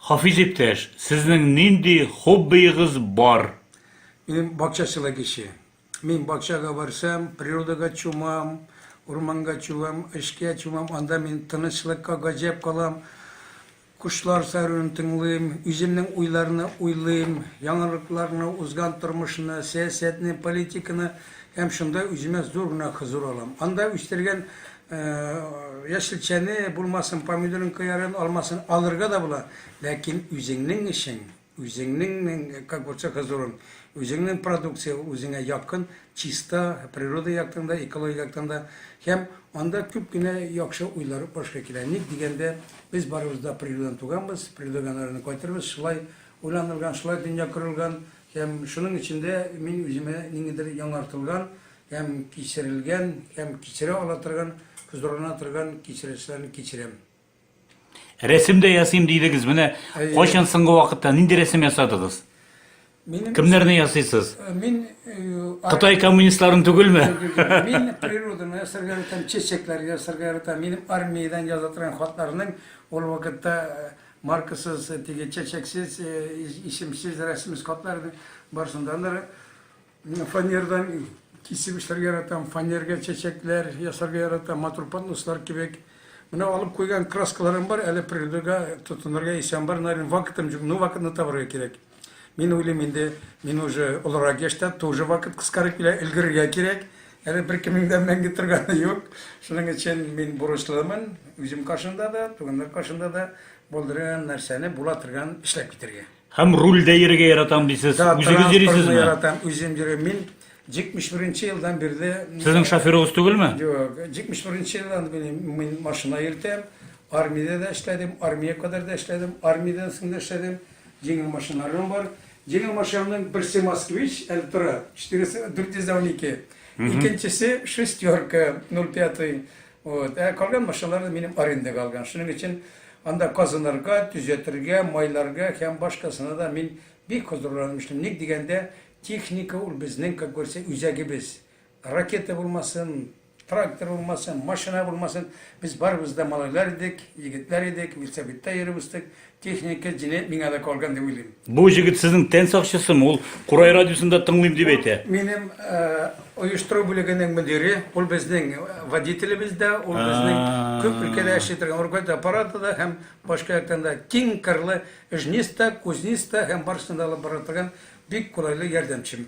Хафиз иптәш, сезнең нинди хоббиегыз бар? Минем бакчачылык ише. Мин бакчага барсам, природага чумам, урманга чумам, эшкә чумам, анда мин тынычлыкка гаҗәп калам. Кошлар сайравын тыңлыйм, үземнең уйларны уйлыйм, яңалыкларны, узган тормышны, сәясәтне, политиканы һәм шунда үземә зур гына хозур алам. Анда үстергән Яшелчәне, булмасын, помидорын, кыярын, алмасын алырга да була, ләкин үзеңнең эшең, үзеңнең, как говорится, хозурың, үзеңнең продукция үзеңә якын, чиста, природа яктан да, экология яктан да. Һәм анда күп кенә яхшы уйлар башка килә. Ник дигәндә, без барыбыз да природадан туганбыз, природадан арына кайтырбыз. Шулай уйланылган, шулай дөнья корылган. Һәм шуның өчен дә мин үземә ниндидер яңартылган, Һәм кичерелгән, һәм кичерә ала торган, зурлана торган кичерешләрне кичерәм. Рәсем дә ясыйм дидегез. Менә Әйе. кайчан соңгы вакытта нинди рәсем ясадыгыз? Минем Кемнәрне ясыйсыз? Э, мин э, Кытай коммунистларын түгелме? Мин природаны ясарга яратам, чәчәкләр ясарга яратам. Минем армиядән яза торган хатларның ул вакытта э, маркасыз, теге чәчәксез, исемсез, рәсемсез хатларның барсында Мин фанердан кисеп эшләргә яратам, фанерга чәчәкләр ясарга яратам, матур поднослар кебек. Менә алып куйган краскаларым бар, әле природага тотынырга исәм бар, наверное, вакытым юк, ну вакытны табарга кирәк. Мин уйлыйм инде, мин уже олырак яшьтә, тоже вакыт кыскарып килә, өлгерергә кирәк. Әле беркемнең дә мәңге торганы юк. Шуның өчен мин бурычлымын, үзем каршында да, туганнар каршында да булдырган нәрсәне була торган эшләп китәргә. Һәм рульдә йөрергә яратам дисез. Да, Үзегез транспортны йөрисезме? яратам, үзем йөрим. Мин 71 елдан бирле Сезнең шоферыгыз түгелме? Юк, 71 елдан бирле мин машина йөртәм. Армиядә дә эшләдем, армия кадәр дә эшләдем, армиядән соң да эшләдем. Җиңел машиналарым бар. Җиңел машинаның берсе Москвич, әле тора, 400 412. Икенчесе шестерка 05. Вот, ә калган машиналарны минем арендага алган. Шуның өчен анда казынырга, төзәтергә, майларга һәм башкасына да мин бик хозурланып эшлим. Ник дигәндә, техника ул безнең, как говорится, үзәгебез. Ракета булмасын, трактор булмасын, машина булмасын, без барыбыз да малайлар идек, егетләр идек, медсоветта йөреп үстек, Техника җинаять миңа да калган дип уйлыйм. Бу җегет сезнең тән сакчысымы? Ул Курай радиосында тыңлыйм дип әйтә. Минем оештыру бүлегенең мөдире, ул безнең водителебез дә, ул безнең күп өлкәдә эшли торган уркать аппараты да һәм башка яктан да киң кырлы эжниста, кузниста һәм барысын да алып бара торган бик кулайлы ярдәмчем.